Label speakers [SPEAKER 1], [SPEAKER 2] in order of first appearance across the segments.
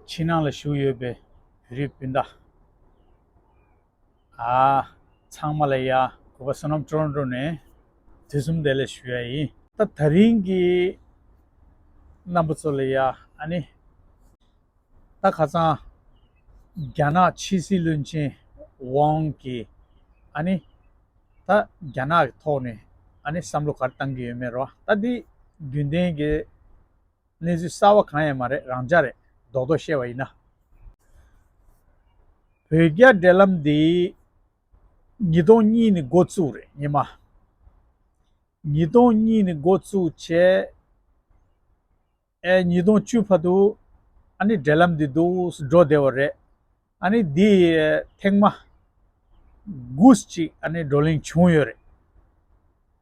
[SPEAKER 1] ཕྱི་ནང་ལ་བཞུགས་ཡོད་པའི་བོད་རིགས་སྤུན་ཟླ་ཚང་མ་ལ་ཡང་གུས་པ་བསོད་ནམས་སྤྲོ་བར་འགྲོ་ནས་དུས་གསུམ་བདེ་ལེགས་ཞུ་ཡ་ཡིན། ད་ད་རིང་གི་རྣམ་པ་ཚོ་ལ་ཡང་ཨ་ནི། ད་ཁ་ཚང་རྒྱ་ནག་ཕྱི་སྲིད་བློན་ཆེན་ཝང་གིས་ཨ་ནི། ད་རྒྱ་ནག་གི་ཐོག་ནས་ཨ་ནི་བསམ་བློ་ག་རེ་བཏང་གི་ཡོད་མེད་རོ། ད་འདི་རྒྱུན་ལྡན་གྱི། གནས་ཚུལ་གསར་བ་གང་ཡང་མ་རེད་རང་འཇགས་རེད་རྡོག་རྡོག་བཤད་བ་ཡིན་ན། བོད་རྒྱ་འབྲེལ་ལམ་འདི་ཉིས་སྟོང་གཉིས་ནི་འགོ་བཙུགས་རེད་ཉི་མ། ཉིས་སྟོང་གཉིས་ནི་འགོ་བཙུགས་བྱས་ཨེ་ཉིས་སྟོང་བཅུ་བར་དུ་ཨ་ནི་འབྲེལ་ལམ་འདི་འདུག་སུ་འགྲོ་བདེ་བ་རེད་ཨ་ནི་འདི་ཐེངས་མ་དགུ་ཅིག་ཨ་ནི་བགྲོ་གླེང་བྱུང་ཡོད་རེད།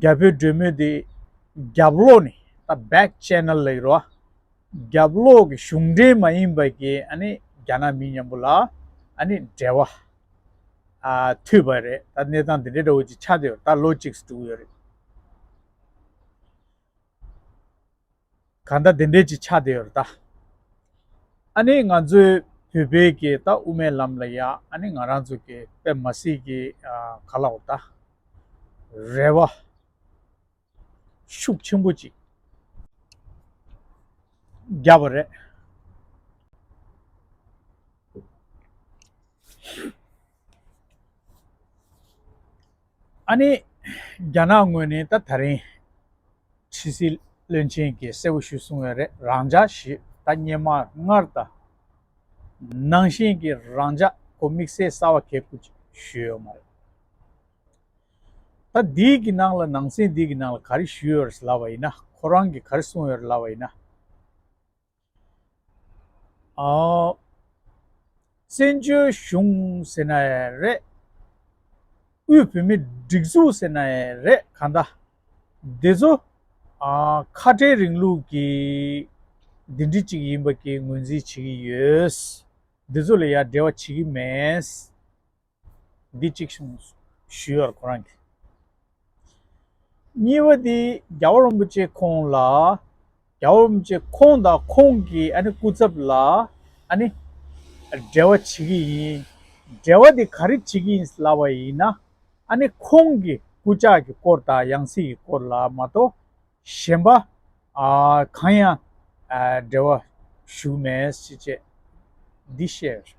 [SPEAKER 1] རྒྱ་བོད་འབྲེལ་མོལ་དེ་རྒྱབ་ལོག་ནས་ད back channel ལས་རོ། རྒྱབ་ལོག་གི་གཞུང་འབྲེལ་མ་ཡིན་པ་གི་ཨ་ནི་རྒྱ་ནག་མི་མཉམ་པོ་ལ་ཨ་ནི་འབྲེལ་བ་མཐུད་པ་རེད་ད་གནས་སྟངས་དེ་འདྲའི་འདྲ་བོ་ཅིག་ཆགས་ཏེ་ད་ལོ་ཅིག་གྲུག་ཡོད་རེད། གང་ལྟ་དེ་འདྲས་ཀྱི་ཆ་དེ་ཡོད་རེད་ད། ཨ་ནི་ང་ཚོའི་བོད་པའི་གི་ད་དབུ་མའི་ལམ་ལ་ཡ་ཨ་ནི་ང་རང་ཚོ་གི་པད་མ་སི་གི་ག་ལ་འོ་ད། རེ་བ། ཤུགས་ཆེན་པོ་ཅིག། རྒྱབ་པ་རེད། ཨ་ནེ། རྒྱ་ནག་ངོས་ནས་ད་ད་རིང། ཁྲི་སི་བློན་ཆེན་གྱིས་གསལ་བོ་ཞུས་སོང་བའི་རེད་རང་འཇགས་ཞེས་ད་བརྙན་མ་སྔར་ད་ནང་བཞིན་གྱི་རང་འཇགས་གོ་དམིགས་བསལ་གསར་བ་གས་བཀུར་ཅིག་ཞུས་ཡོད་མ་རེད། ད་འདི་གི་ནང་ལ་ནང་སེམས་འདི་གི་ནང་ལ་ག་རེ་ཞུས་ཡོད་རེད་ལབ་པ་ཡིན་ན་ཁོ་རང་གིས་ག་རེ་གསུངས་ཡོད་རེད་ལབ་པ་ཡིན་ན། བཙན་བྱོལ་གཞུང་ཟེར་ན་རེད། དབུས་བོད་མིའི་སྒྲིག་འཛུགས་ཟེར་ན་རེད་གང་ལྟ། འདི་ཚོ་ཁ་བྲལ་རིང་ལུགས་ཀྱི་འདི་འདྲི་ཅིག་ཡིན་པ་ཀྱི་ངོས་འཛིན་བྱེད་ཀྱི་ཡོད། འདི་ཚོ་ལ་ཡ་འབྲེལ་བ་བྱེད་ཀྱི་མེད། འདི་གཅིག་བྱུང་ཞུས་པར་ཁོ་རང་གིས། གཉིས་པ་དེ་རྒྱ་བོད་རིན་པོ་ཆེ་ཁོང་ལ། རྒྱ་བོད་རིན་པོ་ཆེ་ཁོང་དང་ཁོང་གི་ཨ་ནེ་སྐུ་ཚབ་ལ་ཨ་ནི། འབྲེལ་བ་བྱེད་ཀྱི་ཡིན། འབྲེལ་བ་དེ་ག་རེ་བྱེད་ཀྱི་ཡིན་ལབ་པ་ཡིན་ན། ཨ་ནི་ཁོང་གི་སྐུ་ཕྱག་གི་སྐོར་དང་ཡང་སྲིད་ཀྱི་སྐོར་ལ་མ་གཏོགས། གཞན་པ་གང་ཡང་འབྲེལ་བ་ཞུགས་མེད་སྲིད་ཅེས་འདི་བཤད་ཡོད་རེད།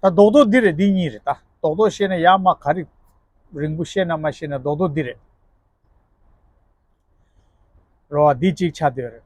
[SPEAKER 1] ད་རྡོག་རྡོག་འདི་རེད་འདི་གཉིས་རེད་ད། རྡོག་རྡོག་བཤད་ན་ཡག་མ་ག་རིག་རིང་པོ་བཤད་ན་མ་ཤེས་ན་རྡོག་རྡོག་འདི་རེད། རོ་བ་འདི་གཅིག་ཆ་འདོད་རེད།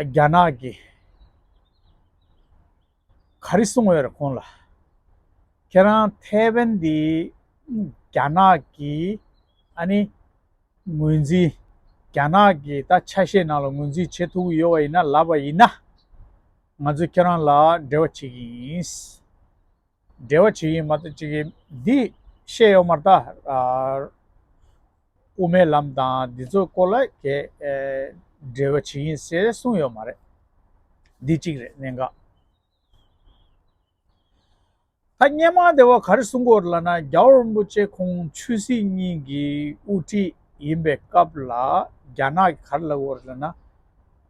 [SPEAKER 1] རྒྱ་ནག་གི་ག་རེ་གསུང་འོས་རེད་ཁོང་ལ། ཁྱེད་རང་ཐའེ་ཝན་འདི་རྒྱ་ནག་གི་ཨ་ནི་ངོས་འཛིན་རྒྱ་ནག་གི་ད་ཆ་ཤས་ནང་ལ་ངོས་འཛིན་བྱེད་ཐུབ་ཀྱི་ཡོད་པ་ཡིན་ན་ལབ་པ་ཡིན་ན། ང་ཚོས་ཁྱེད་རང་ལ་འབྲེལ་བ་བྱེད་ཀྱི་ཡིན། འབྲེལ་བ་ཇི་ཡིན་མ་ལྟ་ཅི་གིས་འདི། ཤེས་ཡོག་མར་བལྟ། དབུ་མའི་ལམ་དང་འདི་ཚོའི་སྐོར་ལ་གས། འབྲེལ་བ་ཇི་ཡིན་ཟེར་གསུངས་ཡོག་མ་རེད། འདི་གཅིག་རེད་གནད་འགག། ཐ་སྙད་མང་དེ་བ་ག་རེ་གསུང་སྐོར་ལ་ན་རྒྱ་བོ་རིན་པོ་ཆེ་ཁོང་ཆོས་སྲིད་གཉིས་ཀྱི་དབུ་ཁྲིད་ཡིན་པའི་སྐབས་ལ་རྒྱ་ནག་གི་ག་རེ་ལབ་སྐོར་ལ་ན།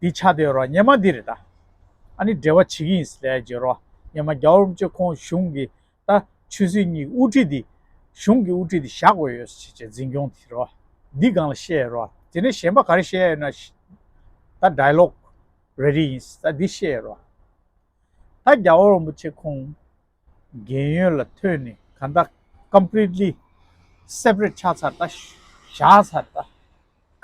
[SPEAKER 1] འདི་ཆ་དེ་རོ་སྙེ་མ་འདི་རེད་ད། ཨ་ནི་འབྲེལ་བ་བྱེད་ཀྱི་ཡིན་ཟེར་རྗེས་རོ་སྙེ་མ་རྒྱ་འོམ་གཅིག་ཁོང་གཞུང་གི་ད་ཆོས་སྲིད་གཉིས་ཀྱི་དབུ་ཁྲིད་འདི་གཞུང་གི་དབུ་ཁྲིད་འདི་བཞག་དགོས་ཡོད་ཟེར་རྗེས་འཛིན་སྐྱོང་དེ་རོ་འདི་སྒང་ལ་བཤད་ཡོད་རོ་དེ་ནས་གཞན་པ་ག་རེ་བཤད་ཡོད་ན་ད Dialogue རེ་རེ་ཡིན་ད་འདི་བཤད་ཡོད་རོ་ད་རྒྱ་འོམ་གཅིག་ཁོང། རྒན་ཡོལ་ལ་ཐོན་ནས་གང་ལྟ Completely Separate ཆགས་ཚར་ལྟ། བཞག་ཚར་ལྟ།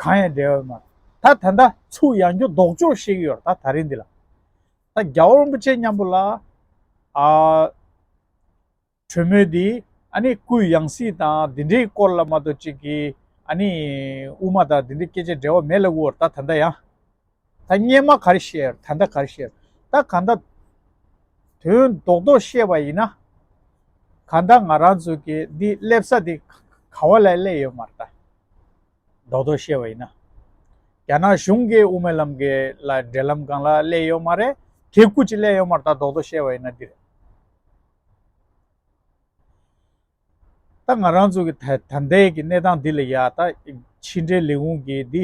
[SPEAKER 1] གང་ཡང་འབྲལ་བའི་མ། ད་ད་ལྟ་ཚུར་ཡང་འགྱོ་ལྡོག་འཇོག་བཤད་ཀྱི་ཡོད་ད་ད་རིང་འདི་ལ། ད་རྒྱ་བོ་རིན་པོ་ཆེ་མཉམ་པོ་ལ། གྲོས་མོལ་འདི་ཨ་ནི་སྐུའི་ཡང་སྲིད་དང་འདི་འདྲའི་སྐོར་ལ་མ་གཏོགས་ཅིག་གིས་ཨ་ནི་དབུ་མ་དང་འདི་འདྲའི་སྐད་ཆ་འབྲལ་བ་མེད་ལབ་ཀྱི་འོར་ད་ད་ལྟ་ཡང། ད་སྙན་མ་གར་བཤད་ད་མདའ་གར་བཤད་ད་ག་མདའ། དོན་རྡོག་རྡོག་བཤད་པ་ཡིན་ན། ག་མདའ་ང་རང་ཚོ་གི་འདི་སླེབས་ས་དེ་ག་བ་ལ་སླེབས་ཡོད་མ་རེད། རྡོག་རྡོག་བཤད་པ་ཡིན་ན། རྒྱ་ནག་གཞུང་གི་དབུ་མའི་ལམ་གི་ལ་འབྲེལ་ལམ་སྒང་ལ་སླེབས་ཡོད་མ་རེད། དེ་ཀུ་ཅི་སླེབས་ཡོད་མ་རེད་ད་རྡོག་རྡོག་བཤད་པ་ཡིན་ན་འདི་རེད། ད་ང་རང་ཚོ་གི་ད་ལྟའི་གི་གནས་སྟངས་འདི་ལ་ཡ་ད་ཕྱི་འབྲེལ་ལས་ཁུངས་ཀྱི་འདི་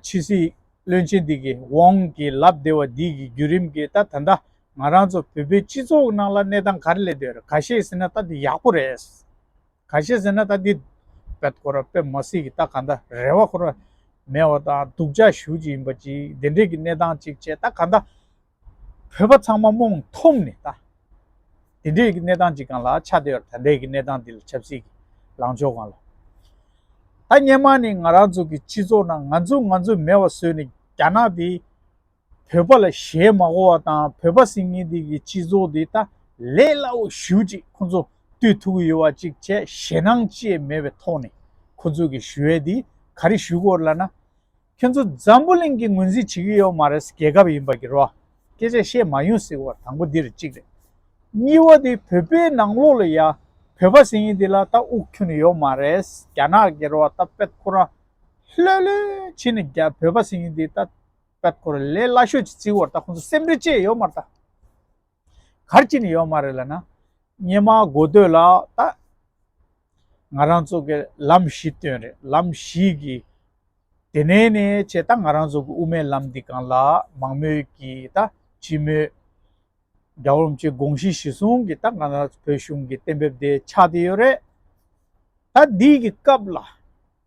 [SPEAKER 1] ཕྱི་སྲིད་བློན་ཆེན་འདི་གི་འོང་གི་ལབ་བདེ་བ་འདི་གི་བརྒྱུད་རིམ་གི་ད་ད་ད་ང་རང་ཚོ་བོད་པའི་སྤྱི་ཚོགས་ནང་ལ་གནས་སྟངས་ག་རེ་ལས་འདོད་རེད་ག་ཤེད་ཟེར་ན་ད་འདི་ཡག་པོ་རེད། ག་ཤེད་ཟེར་ན་ད་འདི་བེད་ཁོ་ར་བེད་མ་སྲིད་གི་ད་ག་ད་རེ་བ་ཁོ་ར་མེད་བ་དང་སྡུག་ཅག་ཞུ་ཅིག་ཡིན་པ་ཅིག་འདི་འདྲའི་གི་གནས་སྟངས་ཅིག་བྱས་ད་ག་ད། བོད་པ་ཚང་མ་རྨོངས་མཐོང་ནས་ད། དེ་འདྲའི་གནས་སྟངས་ཅིག་གང་ལ་ཆགས་བསྡད་པར་ད་འདའི་གི་གནས་སྟངས་འདི་ལ་ཆབ་སྲིད་ཀྱི་ལངས་ཕྱོགས་གང་ལ། ད་སྙན་མ་ནི་ང་རང་ཚོ་གི་སྤྱི་ཚོགས་ནང་ང་ཚོ་ང་ཚོ་མེད་བ་བཟོས་ནས་རྒྱ་ནག་དེ་བོད་པ་ལ་ཞལ་མ་གོ་བ་དང་བོད་པ་སིང་ངེ་འདི་གི་སྤྱི་ཚོགས་འདི་ད་ལས་སླ་བོ་ཞུ་ཅིག་ཁོ་ཚོ་ལྟོས་ཐུག་གི་ཡོད་བ་ཅིག་བྱས་ཞེ་སྣང་བཅས་མེད་པའི་ཐོག་ནས་ཁོ་ཚོ་གི་ཞུ་བའི་འདི་ག་རེ་ཞུ་དགོས་ལ་ན། ཁྱོད་ཚོ་འཛམ་བུ་གླིང་གི་ངོས་འཛིན་བྱེད་ཀྱི་ཡོད་མ་རེད་རྒྱལ་ཁབ་ཡིན་པར་གྱུར་བ་སྐད་ཆ་བཤད་མ་ཡོང་ཟེར་བ་དང་པོ་འདིར་གཅིག་རེད། གཉིས་བ་དེ་བོད་པའི་ནང་ལོགས་ལ་ཡ་བོད་པ་ཟེར་ཡིན་དེ་ལ་ད་དབུགས་ཁྱུ་ནི་ཡོད་མ་རེད་རྒྱ་ནག་གི་རོ་ད་པད་ཁོ་རང་ལྷོད་ལྷོད་བྱེད་ནས་རྒྱ་བོད་པ་ཟེར་ཡིན་དེ་ད་པད་ཁོ་ར་ལས་སླ་ཤོས་ཀྱི་བརྩི་བར་ད་ཁོང་ཚོ་སེམས་ཁྲལ་བཅས་ཡོད་མ་རེད། གར་གྱི་ནི་ཡོད་མ་རེད་ལ་ན། སྙེ་མ་དགོས་འདོད་ལ་ད། ང་རང་ཚོ་གི་ལམ་བཞི་སྟོན་རེད་ལམ་བཞི་གི། དེ་ནས་ནི་བྱས་ད་ང་རང་ཚོ་གི་དབུ་མའི་ལམ་འདི་གང་ལ་མང་མོས་ཀྱི་ད་སྤྱི་མོས། དགྲ་བོ་རུམ་ཆེན་དགོངས་གཞི་གཞི་བཟུང་གི་ད་ང་རང་བོད་གཞུང་གི་གཏན་འབེབས་དེ་ཆགས་དེ་ཡོད་རེད། ད་འདི་གི་སྐབས་ལ།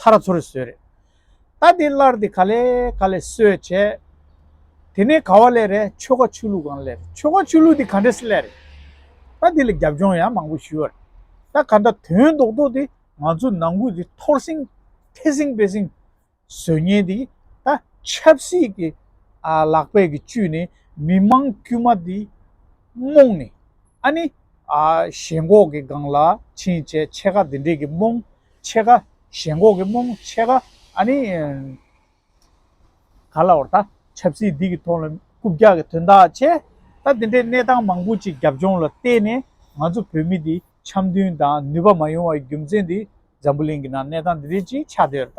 [SPEAKER 1] ཐར་ཚུར་བཟོས་རེད། ད་དེ་སླར་དེ་ག་ལས་ག་ལས་གསོས་བྱས། དེ་ནས་ག་བ་སླེ་རེད་ཆོལ་ཁ་ཆོས་ལུགས་གང་སླེ་རེད་ཆོལ་ཁ་ཆོས་ལུགས་དེ་ག་འདྲས་སུ་སླེ་རེད། ད་དེ་ལ་རྒྱབ་ལྗོངས་ཡང་མང་པོ་ཞུས་བ་རེད། ད་ག་འདྲ་དོན་རྡོག་རྡོག་དེ་ང་ཚོ་ནང་ཁུལ་དེ་འཐོར་སྲིང་ཐེ་སྲིང་སྤེལ་སྲིང་བཟོས་ཉེན་དེ་ད་ཆབ་སྲིད་ཀྱི་ལག་པས་ཀྱི་བཅུས་ནས་མི་མང་དཀྱུས་མ་དེ་རྨོངས་ནས་ཨ་ནི། ཞེན་ཁོག་གི་སྒང་ལ་ཕྱིན་བྱས་ཆེ་ཁ་དེ་འདྲས་ཀྱི་རྨོངས། ཕྱེད་ཀ། ཞེན་ཁོག་གི་རྨོངས་ཕྱེད་ཀ། ཨ་ནི། ག་ལ་བར་ད། ཆབ་སྲིད་སྡིག་གི་ཐོག་ལ། རྐུབ་བཀྱག་གི་དོན་དག་བྱས། ད་དེ་འདྲའི་གནས་སྟངས་མང་པོ་ཅིག་རྒྱབ་ལྗོངས་ལ་བལྟས་ནས་ང་ཚོ་བོད་མི་འདི་འཆམ་མཐུན་དང་ནུས་པ་མ་ཡོང་བའི་རྒྱུ་མཚན་འདི་འཛམ་བུ་གླིང་གི་ནང་གནས་སྟངས་འདི་འདྲའི་ཅིག་ཆགས་འདི་ར་ད།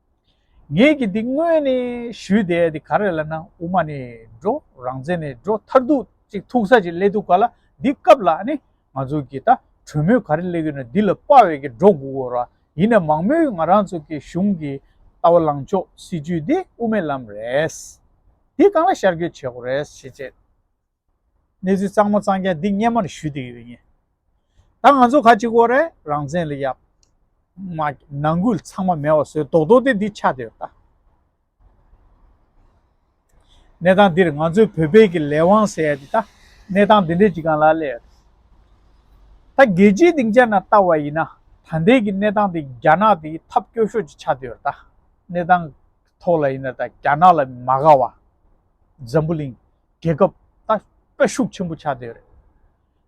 [SPEAKER 1] ངེད་ཀྱིས་འདི་དངོས་ནས་ཞུས་ཏེ་འདི་ག་རེ་ལབ་ན་དབུ་མ་ནས་འགྲོ་རང་བཙན་ནས་འགྲོ་མཐར་ཐུག་ཅིག་ཐུག་ས་ཅིག་སླེབས་འདུག་ག་ལ་འདི་སྐབས་ལ་ནི་ང་ཚོ་གིས་ད་གྲོས་མོལ་ག་རེ་སླེབས་ཡོད་ན་འདི་ལ་དཔའ་བས་ཀྱི་འགྲོ་དགོས་གོ་ར་ཡིན་ན་མང་མོས་ང་རང་ཚོ་གི་གཞུང་གི་ལྟ་བ་ལངས་ཕྱོགས་སྲིད་བྱུས་འདི་དབུ་མའི་ལམ་རེད། འདི་གང་ལ་ཤར་བསྐྱོད་བྱེད་དགོས་རེད་ཤེས་ཆེད། གནས་ཚུལ་གཙང་མ་གཙང་རྐྱང་འདི་སྙན་མར་ཞུས་དུས་ཡོད་ངེས། ད་ང་ཚོ་ཁ་གཅིག་བོ་རེད་རང་བཙན་ལ་ཡབ། མ། ནང་ཁུལ་ཚང་མ་མེད་བ་བཟོས་རྡོག་རྡོག་དེ་འདི་ཆགས་དེར་ལྟ། གནས་སྟངས་འདིར་ང་ཚོའི་བོད་པའི་གི་ལས་དབང་ཟེར་ཡ་འདི་ད་གནས་སྟངས་འདི་འདྲའི་གཅིག་གང་ལ་སླེབས། ད་རྒྱལ་སྤྱིའི་སྡིངས་ཆ་ན་ལྟ་བ་ཡིན་ན་ད་ལྟའི་གི་གནས་སྟངས་འདི་རྒྱ་ནག་འདི་ཐབས་སྐྱོ་ཤོས་ཅིག་ཆགས་དེར་ལྟ། གནས་སྟངས་ཐོག་ལ་ཡིན་ན་ད་རྒྱ་ནག་ལ་མ་དགའ་བ། འཛམ་བུ་གླིང། རྒྱལ་ཁབ་ད་སྤེ་ཤུགས་ཆེན་པོ་ཆགས་དེ་ཡོད་རེད།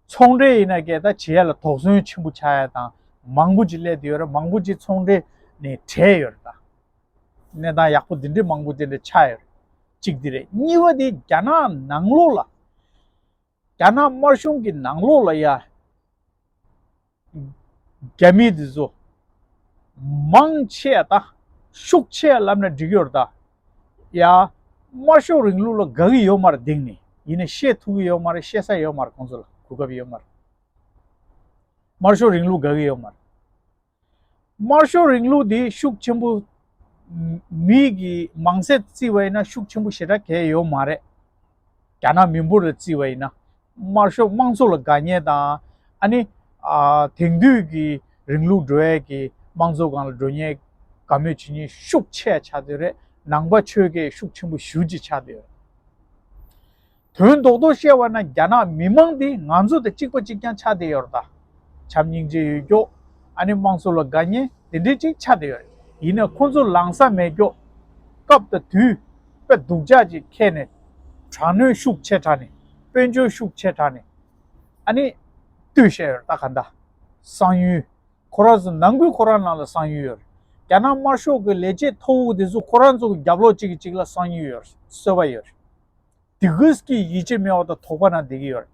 [SPEAKER 1] ཚོང་འབྲེལ་ཡིན་ན་སྐད་ད་བྱེད་ཡ་ལ་དོགས་ཟོན་ཆེན་པོ་ཆགས་ཡ་དང་མང་པོ་ཅིག་སླེབས་དེ་ཡོད་རེད་མང་པོ་ཅིག་ཚོང་འབྲེལ་ནས་བྲལ་ཡོད་རེད་ད། གནས་སྟངས་ཡག་པོ་དེ་འདྲའི་མང་པོ་དེ་འདྲ་ཆགས་ཡོད་རེད། གཅིག་དེ་རེད་གཉིས་པ་དེ་རྒྱ་ནག་ནང་ལོགས་ལ། རྒྱ་ནག་དམར་གཞུང་གི་ནང་ལོགས་ལ་ཡ། རྒྱ་མི་དེ་ཚོ་མང་ཆེ་ད་ཤུགས་ཆེ་ལབ་ན་འགྲིག་ཡོར་ད་ཡ། དམར་ཤོག་རིང་ལུགས་ལ་དགའ་གི་ཡོད་མ་རེད་དེང་ནས་ཡིན་ན་ཤེས་ཐུབ་གི་ཡོད་མ་རེད་ཤེས་ས་ཡོད་མ་རེད་ཁོང་ཚོ་ལ་གོ་སྐབས་ཡོད་མ་རེད། དམར་ཤོག་རིང་ལུགས་དགའ་གི་ཡོད་མ་རེད། དམར་ཤོག་རིང་ལུགས་དེ་ཤུགས་ཆེན་པོ་མི་གི་མང་ཚད་བརྩི་བ་ཡིན་ན་ཤུགས་ཆེན་པོ་ཞེ་དྲག་གས་ཡོད་མ་རེད། རྒྱ་ནག་མི་འབོར་ལ་བརྩིས་བ་ཡིན་ན། དམར་ཤོག་དམངས་གཙོ་ལ་དགའ་ཉེ་དང། ཨ་ནི། དེང་དུས་ཀྱི་རིང་ལུགས་འགྲོ་ཡས་ཀྱི་དམངས་གཙོ་སྒང་ལ་འགྲོ་ཉེ་དགའ་མོས་བྱེད་ཉེ་ཤུགས་ཆེ་ཆགས་དུས་རེད་ནང་པ་ཆོལ་ཁས་ཤུགས་ཆེན་པོ་ཞུ་ཅི་ཆགས་དུས་རེད། དོན་རྡོག་རྡོག་བཤད་བ་ན་རྒྱ་ནག་མི་དམངས་དེ་ང་ཚོ་དང་གཅིག་པ་གཅིག་རྐྱང་ཆགས་དུས་ཡོད་རེད་ད། བྱམས་སྙིང་རྗེ་ཡོད་སྐྱོ། ཨ་ནི་དམངས་གཙོ་ལ་དགའ་ཉེ་དེ་འདྲས་ཅིག་ཆགས་དུས་ཡོད་རེད། ཡིན་ན་ཁོང་ཚོ་ལངས་ས་མེད་སྐྱོ། སྐབས་དང་དུས། པའི་སྡུག་ཅག་ཅིག་ཁྱེར་ནས། དྲག་གནོན་ཤུགས་ཆེ་དྲགས་ནས། དཔོན་ཆུང་ཤུགས་ཆེ་དྲགས་ནས། ཨ་ནི། ལྟོས་བཤད་ཡོད་རེད་ད་ག་འདའ། གསང་ཡུལ། ཁོ་རང་ཚོ་ནང་ཁུལ་ཁོ་རང་ནང་ལ་གསང་ཡུལ་ཡོད་རེད། རྒྱ་ནག་དམར་ཤོག་གི་ལས་བྱེད་མཐོ་བོ་དེ་ཚོ་ཁོ་རང་ཚོ་གི་རྒྱབ་ལོག་གཅིག་གི་གཅིག་ལ་གསང་ཡུལ་ཡོད་རེད་གསོལ་བ་ཡོད་རེད། དེ་ཀུས་ཀྱིས་ཡིད་ཆེས་མེད་བ་དང་དོགས་པ་ན་བསྡད་ཀྱི་ཡོད་རེད།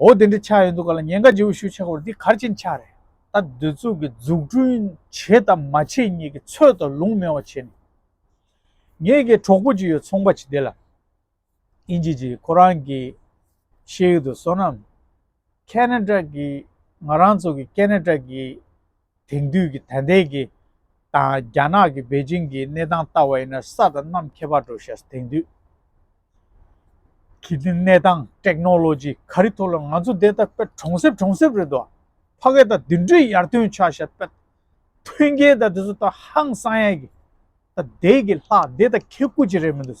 [SPEAKER 1] འོ་དེ་འདྲའི་ཆ་ཡོད་འདུག་ག་ལ་ཉེན་ཁ་ལྗི་བོ་ཞུ་ཆོག་པར་འདི་གར་ཕྱིན་ཆ་རེད། ད་སྡོད་ཚུགས་ཀྱི་འཛུགས་སྐྲུན་བྱེད་དང་མ་བྱེད་གཉིས་ཀྱི་ཚོད་དང་ལུང་མེད་བ་བྱེད་ནས། ངེད་ཀྱི་གྲོགས་པོ་ཅིག་ཡོད་ཚོང་པ་ཅིག་དེ་ལ་ཨིན་ཇི་གྱིས་ཁོ་རང་གི་ཤེས་ཡོད་དུ་བསོད་ནམས། Canada། གིས་ང་རང་ཚོ་གི Canada། གི། དེང་དུས་ཀྱི་དད་ལྡན་གྱི་དང་རྒྱ་ནག་གི་པེ་ཅིང་གི་གནས་སྟངས་ལྟ་བ་ཡིན་ན་ས་དང་གནམ་ཁྱད་པར་འགྲོ་ཤག་དེང་དུས་ཀྱི་གནས་སྟངས Technology ག་རི་ཐོག་ལ་ང་ཚོ་འདས་ད་པད་གྲོང་གསེབ་གྲོང་གསེབ་རེད་དོ་ཕ་གས་ད་དུད་འགྲོས་ཡར་ཐོན་ཆགས་ཤག་པད་ཐོན་རྒྱལ་ད་དེ་ཚོ་ད་ཧང་སང་ཡག་གི་ད་འདས་ཀྱི་ལྷག་འདས་ད་ཁེ་ཁུ་ཅི་རེད་མི་འདུག།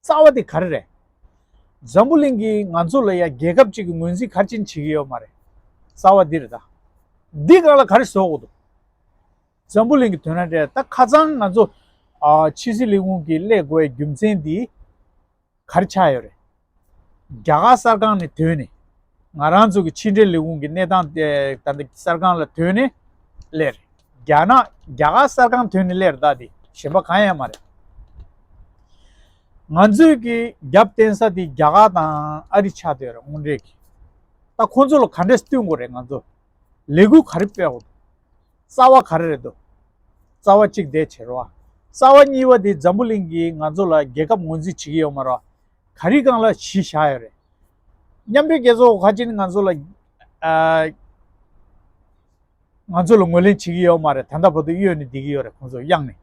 [SPEAKER 1] རྩ་བ་དེ་ག་རེ་རེད། འཛམ་བུ་གླིང་གིས་ང་ཚོ་ལ་ཡ་རྒྱལ་ཁབ་ཅིག་གི་ངོས་འཛིན་གར་ཅན་བྱེད་ཀྱི་ཡོད་མ་རེད། རྩ་བ་འདི་རེད་ད། འདི་གང་ལ་ག་རེ་བཟོ་འོག་ཏུ། འཛམ་བུ་གླིང་གི་དོན་ར་འདྲེ་ད་ཁ་ཚང་ང་ཚོ། ཕྱི་སྲིད་ལས་ཁུངས་ཀྱིས་སླད་དགོས་པའི་རྒྱུ་མཚན་འདིས་ག་རེ་ཆགས་ཡོད་རེད། རྒྱ་གར་གསར་ཁང་ནས་དོན་ནི། ང་རང་ཚོ་གི་ཕྱི་འབྲེལ་ལས་ཁུངས་ཀྱི་གནས་སྟངས་དེ་ད་ལྟ་གསར་ཁང་ལ་ཐོན་ནས་གླེང། རྒྱ་ནག་རྒྱ་གར་གསར་ཁང་ཐོན་ནས་གླེང་རེད་ད་དེ་གཞན་པ་གང་ཡང་མ་རེད། ང་ཚོས་ཀྱི་རྒྱབ་བརྟེན་ས་དེ་རྒྱ་གར་དང་ཨ་རི་ཆགས་སྡོད་རེད་དངོས་འབྲེལ་གྱི། ད་ཁོང་ཚོ་ལ་ག་འདྲས་བསྟུན་དགོས་རེད་ང་ཚོ་ལས་འགུལ་ག་རེ་སྤེལ་དགོས་འདུག་རྩ་བ་ག་རེ་རེད་འདུག་རྩ་བ་གཅིག་བདེ་བྱེད་རོགས། རྩ་བ་གཉིས་པ་དེ་འཛམ་བུ་གླིང་གིས་ང་ཚོ་ལ་རྒྱལ་ཁབ་ངོས་འཛིན་བྱེད་ཀྱི་ཡོད་མ་རོགས། ག་རི་གང་ལ་གཞི་བཞག་ཡོད་རེད། མཉམ་འབྲེལ་རྒྱལ་ཚོགས་ཧ་ཅིན་ང་ཚོ་ལ་ང་ཚོ་ལ་ངོས་ལེན་བྱེད་ཀྱི་ཡོད་མ་རེད་ད་ལྟ་བར་དུ་གཡོལ་ནས་བསྡད་ཀྱི་ཡོད་རེད་ཁོང་ཚོ་གཡང་ནས།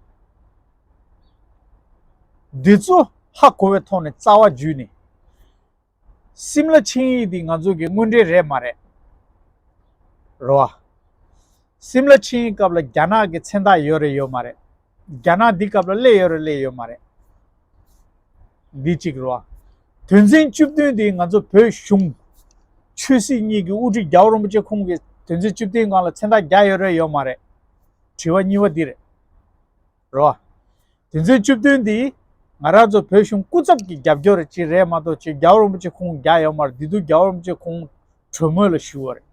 [SPEAKER 1] འདི་ཚོ་ཧ་གོ་བའི་ཐོག་ནས་རྩ་བ་འཇུས་ནས། སིམ་ལ་ཆིངས་ཡིག་འདི་ང་ཚོ་གི་དངོས་འབྲེལ་རེད་མ་རེད། རེད་བ། སིམ་ལ་ཆིངས་ཡིག་སྐབས་ལ་རྒྱ་ནག་གི་མཚན་རྟགས་ཡོད་རེད་ཡོད་མ་རེད། རྒྱ་ནག་འདི་སྐབས་ལ་སླེ་ཡོད་རེད་སླེ་ཡོད་མ་རེད། འདི་གཅིག་རོ། དོན་ཚན་བཅུ་བདུན་དེ་ང་ཚོ་བོད་གཞུང། ཆོས་སྲིད་གཉིས་ཀྱི་དབུ་ཁྲིད་རྒྱ་བོ་རིན་པོ་ཆེ་ཁོང་གིས་དོན་ཚན་བཅུ་བདུན་སྒང་ལ་མཚན་རྟགས་རྒྱག་ཡོད་རེད་ཡོད་མ་རེད། དྲི་བ་གཉིས་པ་འདི་རེད། རོ། དོན་ཚན་བཅུ་བདུན་འདི་ང་རང་ཚོ་བོད་གཞུང་སྐུ་ཚབ་ཀྱི་རྒྱབ་སྐྱོར་ཅིག་རེད་མ་གཏོགས་ཆོས་རྒྱ་བོ་རིན་པོ་ཆེ་ཁོང་རྒྱག་ཡོད་མ་རེད་འདི་དུས་རྒྱ་བོ་རིན་པོ་ཆེ་ཁོང་གྲོས་མོལ་ལ་ཞུས་བ་རེད།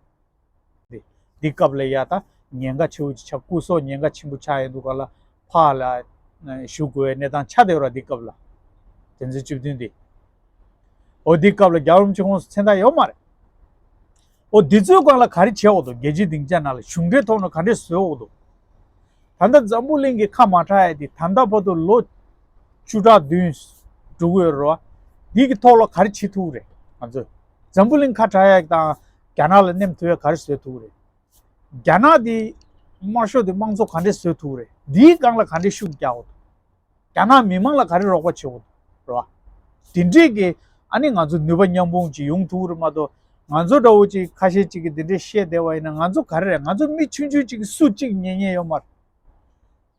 [SPEAKER 1] འདི་སྐབས་ལ་ཡ་ད་ཉེན་ཁ་ཆེའུ་ཅི་ཆ་སྐུ་སོགས་ཉེན་ཁ་ཆེན་པོ་ཆགས་ཡས་འདུག་ག་ལ་ཕ་ལ་ཞུ་དགོས་བའི་གནས་སྟངས་ཆགས་བསྡད་རོགས་འདི་སྐབས་ལ། དེ་ཚོའི་བཅུ་བདུན་འདི། ཨོ་འདི་སྐབས་ལ་རྒྱ་རོམ་གྱི་ཁོངས་སུ་མཚན་རྟགས་ཡོད་མ་རེད། ཨོ་འདི་ཚོའི་སྒང་ལ་ག་རེ་བྱས་འོག་ཏུ་རྒྱལ་སྤྱིའི་སྡིངས་ཆ་ནང་ལ་གཞུང་འབྲེལ་ཐོག་ནས་ག་འདྲས་བཟོས་འོག་ཏུ། ད་ལྟ་འཛམ་བུ་གླིང་གི་ཁ་མ་གྲགས་ཡས་འདི་ད་ལྟ་བར་དུ་ལོ་བཅུ་ཕྲག་བདུན་དྲུག་ཡོད་རོགས་འདི་གི་ཐོག་ལ་ག་རེ་བྱེད་ཐུབ་རེད་ང་ཚོས་འཛམ་བུ་གླིང་ཁ་གྲགས་ཡས་དང། རྒྱ་ནག་ལ་བསྣེམས་ཐུབ་ཡ་ག་རེ་བཟོས་ཐུབ་རེད། རྒྱ་ནག་དེ་དམར་ཤོག་དེ་དམངས་གཙོ་ག་འདྲེ་བཟོས་ཐུབ་རེད་དེའི་སྒང་ལ་ག་འདྲེ་ཤུགས་རྒྱག་འོ། རྒྱ་ནག་མི་མང་ལ་ག་རེ་རོགས་པ་བྱེད་འོ། རེད་བ། དེ་འདྲེས་ཀྱི་ཨ་ནི་ང་ཚོ་ནུས་པ་མཉམ་སྤུངས་ཀྱི་ཡོང་ཐུབ་རེད་མ་གཏོགས་ང་ཚོ་འདྲ་བོ་ཅིག་ཁ་ཤས་ཅིག་གི་དེ་འདྲེ་བཤད་བསྡད་བ་ཡིན་ན་ང་ཚོ་ག་རེ་རེད་ང་ཚོ་མི་ཆུང་ཆུང་ཅིག་གི་སུ་གཅིག་ཉེ་ཉེ་ཡོད་མ་རེད།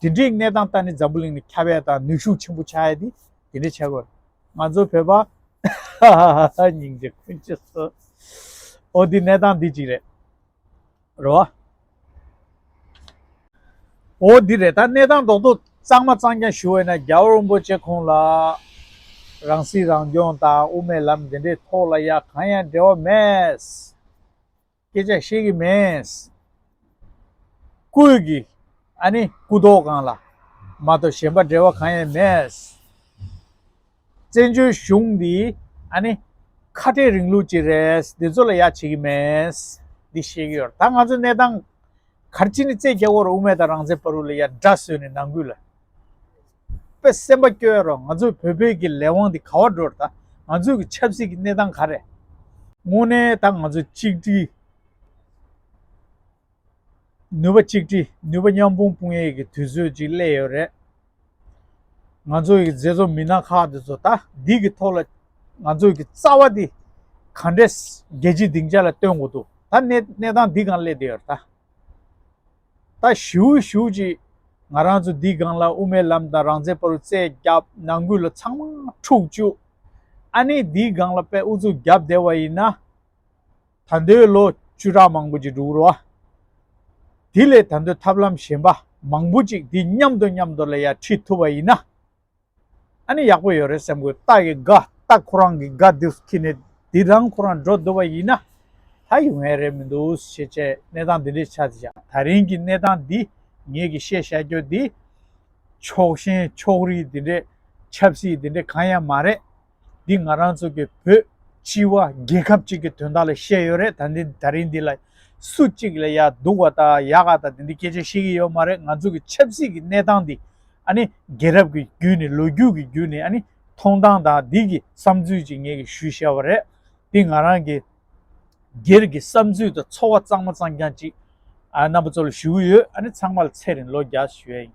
[SPEAKER 1] དེ་འདྲའི་གནས་སྟངས་ལྟར་ནི་འཛམ་བུ་གླིང་ནི་ཁྱབ་ཡ་དང་ནུས་ཤུགས་ཆེན་པོ་ཆགས་ཡ་དེ་དེ་འདྲའི་ཆགས་དགོས། ང་ཚོ་བོད་པ། སྙིང་རྗེ་ཀུན་བྱེད་བསོད། ཨོ་དེ་གནས་སྟངས་འདི་ཅིག་རེད། རེད་བ། ཨོ་དེ་རེད་ད་གནས་སྟངས་རྡོག་རྡོག་གཙང་མ་གཙང་རྐྱང་ཞུ་འོས་ན་རྒྱ་བོད་རིན་པོ་ཆེ་ཁོང་ལ། རང་སྲིད་རང་སྐྱོང་དང་དབུ་མའི་ལམ་འདི་འདྲའི་ཐོག་ལ་ཡ་གང་ཡང་འབྲེལ་བ་མེད། སྐད་ཆ་བཤད་ཀྱི་མེད། སྐུའི་གི། ཨ་ནི་སྐུ་མདོག་གང་ལ། མ་གཏོགས་གཞན་པ་འབྲེལ་བ་གང་ཡང་མེད། བཙན་བྱོལ་གཞུང་འདི་ཨ་ནི། ཁ་བྲལ་རིང་ལུགས་ཀྱི་རེད་འདི་ཚོ་ལ་ཡག་བྱེད་ཀྱི་མེད། འདི་ཤེས་ཀྱི་ཡོད་ད་ང་ཚོའི་གནས་སྟངས། གར་སྤྱི་ནི་རྩེ་རྒྱ་བོར་དབུ་མེད་དང་རང་བཙན་བར་དབུ་ལ་ཡར་འདྲ་བཟོས་ནས་ནང་ཁུལ་ལ། པའི་སེམས་པ་སྐྱོན་རོགས་ང་ཚོའི་བོད་བོད་ཀྱི་ལས་དབང་འདི་ག་བ་འགྲོར་ད་ང་ཚོའི་གི་ཆབ་སྲིད་ཀྱི་གནས་སྟངས་ག་རེད་དངོས་གནས་ད་ང་ཚོ་གཅིག་སྒྲིལ། ནུས་པ་གཅིག་སྒྲིལ་ནུས་པ་མཉམ་སྤུངས་སྤུངས་ཡས་ཀྱི་དུས་ཚོད་ཅིག་སླེབས་ཡོད་རེད། ང་ཚོའི་གི་མཛེས་ཚོ་མི་སྣ་ཁག་འདི་ཚོ་ད་འདི་གི་ཐོག་ལ་ང་ཚོའི་གི་རྩ་བ་འདི་ག་འདྲས་རྒྱལ་སྤྱི་སྡིངས་ཆ་ལ་སྟོན་དགོས་འདུག་ད་གནས་གནས་སྟངས་འདི་གང་སླེབས་བསྡད་ཡོད་རེད་ད། ད་བཞུགས་བཞུགས་ཅིག། ང་རང་ཚོ་འདིའི་སྒང་ལ་དབུ་མའི་ལམ་དང་རང་བཙན་པ་རུ་རྩེ་རྒྱབ་ནང་ཁུལ་ལ་ཚང་མ་འཁྲུག་བཅུག། ཨ་ནེ་འདིའི་སྒང་ལ་པད་ཨུ་ཚུགས་བརྒྱབ་བསྡད་བ་ཡིན་ན། ད་ལྟོའི་ལོ་བཅུ་ཕྲག་མང་པོ་ཅིག་འགྲུག་རོ། དེ་ལས་ད་ལྟོའི་ཐབས་ལམ་གཞན་པ་མང་པོ་ཅིག་འདི་མཉམ་དུ་མཉམ་དུ་ལ་ཡར་ཁྲིད་ཐུབ་པ་ཡིན་ན། ཨ་ནི་ཡག་པོ་ཡོད་རེད་སེམས་གོས་རྟགས་ཀྱི་དགའ་རྟགས་ཁོ་རང་གི་དགའ་འདི་ཁྱི་ནས་འདི་རང་ཁོ་རང་འགྲོ་འདོད་པ་ཡིན་ན། ད་ཡོང་ཡས་རེད་མི་འདུག་ཤེས་བྱའི་གནས་སྟངས་འདི་འདྲའི་ཆ་འདི་ད་རིང་གི་གནས་སྟངས་འདི་ངེད་ཀྱི་ཤེས་བྱ་ཁྱོད་འདི། ཕྱོགས་ཞེན་ཕྱོགས་རིས་འདི་འདྲའི་ཆབ་སྲིད་འདི་འདྲའི་གང་ཡང་མ་རེད། འདི་ང་རང་ཚོ་གི་བོད་སྤྱི་བ་རྒྱལ་ཁབ་ཅིག་གི་དོན་དག་ལ་བཤད་ཡོད་རེད་ད་འདི་ད་རིང་འདི་ལ་སུ་གཅིག་ལ་ཡ་སྡུག་བ་དང་ཡ་ག་དང་འདི་འདི་སྐད་ཆ་བཤད་ཀྱི་ཡོད་མ་རེད་ང་ཚོ་གི་ཆབ་སྲིད་ཀྱི་གནས་སྟངས་འདི་ཨ་ནི་རྒྱལ་རབས་ཀྱི་རྒྱུད་ནས་ལོ་རྒྱུས་ཀྱི་རྒྱུད་ནས་ཨ་ནི་མཐོང་སྟངས་དང་འདི་གི་བསམ་ཚུལ་ཅིག་ངེད་ཀྱི་ཞུས་བཞེས་བ་རེད་འདི་ང་རང་གི་སྒེར་གྱི་བསམ་ཚུལ་དང་ཚོར་བ་གཙང་མ་གཙང་རྐྱང་ཅིག་ཨ་རྣམ་པ་ཚོ་ལ་ཞུ་གི་ཡོད་ཨ་ནི་ཚང་མ་ལ་ཚེ་རིང་ལོ་བརྒྱ་ཞུ་ཡ་ཡིན།